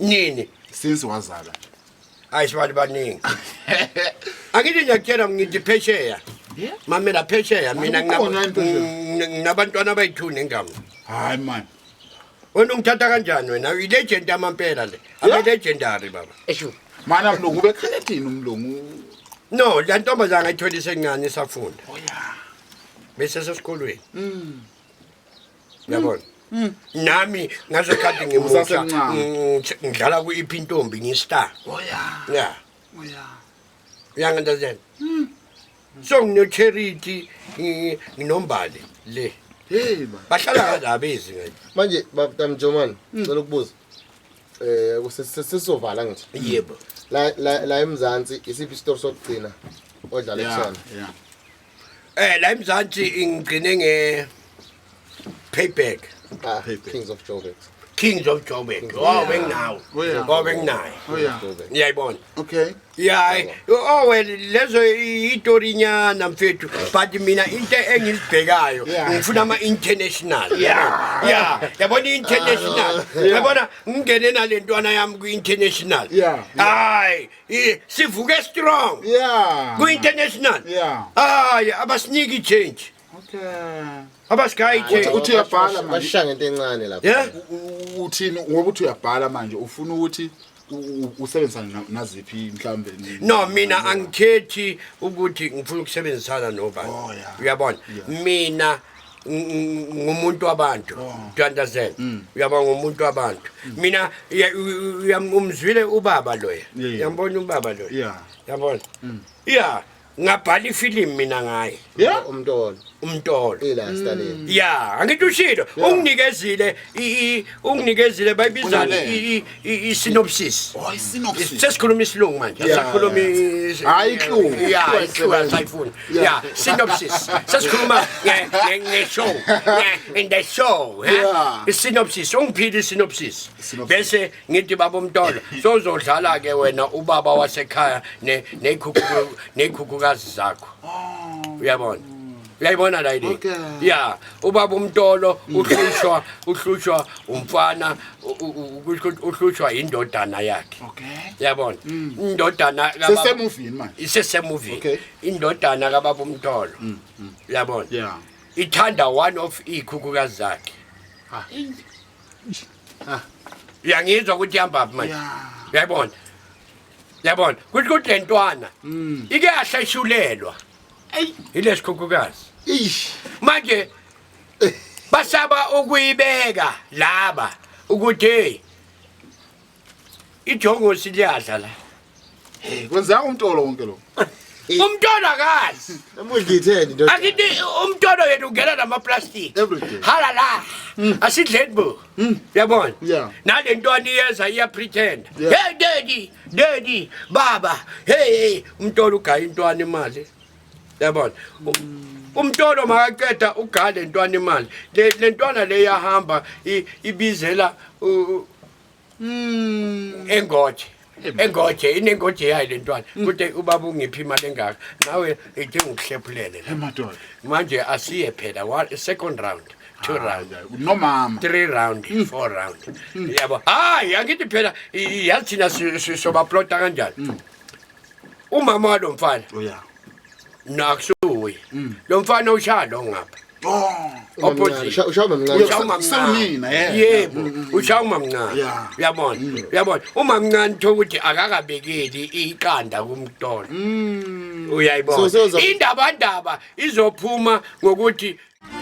nini since wazala hayi sibantu baningi angithi ngiyakutshela ngithi phesheya mamela phesheya mina Akukhona into nje. ngina- nginabantwana abayi-two nengama hayi mani wena ungithatha kanjani wena ilegend yamampela le abelegendary baba esho mani amlungu ubekhala ethini umlungu no la ntombazana ngayitholi isencane isafunda oya bese sesikolweni yabona mm. nami ngasekhathi ngimusha Usasemncane. ngitsh- ngidlala ku-iphi intombi ngistar oya ya oya uyangendazela Mm. so nginocherity ngi- nginombali le hey ba bahlala kadabezi ngathi manje babtamjomani Mm. cela ukubuza um sesizovala ngithi yebo la la- la emzansi isiphi isitori sokugcina odlale Yeah, kusona yeah. Eh la eMzansi ngigcine nge payback. Ah, Kings of Joburg. Kings of Joburg. Oh benginawo. Oh benginayo. Ngiyayibona. Okay. Yeah. Oh well lezo itori nyana mfethu but mina into engizibhekayo ngifuna ama international. Yeah. Yeah. Yabona international. Yabona ngingene nalentwana yami ku international. Hayi. Eh, sivuke strong yeah kwi-international yeah hayi abasiniki i-change okay abasigayi change uthi uyabhala manje bashisha ngento encane lapha yeah uthini ngoba uthi uyabhala manje ufuna ukuthi usebenzisana naziphi mhlawumbe no mina angikhethi ukuthi ngifuna ukusebenzisana nobani oh, uyabona mina ngumuntu wabantu oh. do understand mm. uyaba ngumuntu wabantu mm. mina umzwile ubaba loya yambona ubaba loya yabona mm. ya ngabhala ifilimu mina ngaye umntolo umntolo ya angithi ushilo unginikezile unginikezile bayibizani i- i-synopsis Oh, i-synopsis. sesikhuluma isilungu manje Yeah, asikhulumi yeah. Hhayi ihlungu. Ihlungu Ihlungu esebenza. asayifuni Yeah. ya synopsis sesikhuluma nge- nge- nge-show nge- in the show eh? Yeah. i-synopsis ungiphile i-synopsis Synopsis. bese ngithi baba umtolo sozodlala-ke wena ubaba wasekhaya ne- nekhukhu- nekhukhukazi zakho uyabona uyayibona la yini ya ubaba umtolo uhlushwa uhlushwa umfana uhlushwa indodana yakhe yabona mm. indodana sesemuvini manje isesemuvini indodana kababa umtolo mm, mm. yabona ithanda one of ikhukhukazi zakhe ah. ah. uyangizwa ukuthi ihamba phi manje uyayibona yabona kusho ukuthi le ntwana ike yahleshulelwa yeah. eyi yile sikhukhukazi ish manje basaba ukuyibeka laba ukuthi hey ijongosi liyadla la hey kwenzeka umtolo wonke lo umtolo akazi emudlitheni ndoda akithi umtolo yethu ungena nama plastic Everything. hala la asidleni bo Hmm, yabona yeah. nale ntwana iyeza iyapretenda yeah. hey daddy daddy baba hey hey umntolo ugaya intwana imali yabona mm. umntolo makaqeda ugaya le ntwana imali le ntwana le yahamba ibizela mm. engothi engoje inengoje yayo le ntwana mm. kude ubaba ungiphi imali engaka nawe idinga ukuhlephulele manje asiye phela second round two ah, round nomama three round mm. four round mm. yabo hayi angithi phela yathina sobaplota kanjani umama walo mfana oh, nakusuye mm. lo mfana ushaya lo ngapha yebo ushaya umamncane uyabona mm. uyabona umamncane thola ukuthi akakabekeli iqanda kumtolo mm. uyayibona indabandaba izophuma ngokuthi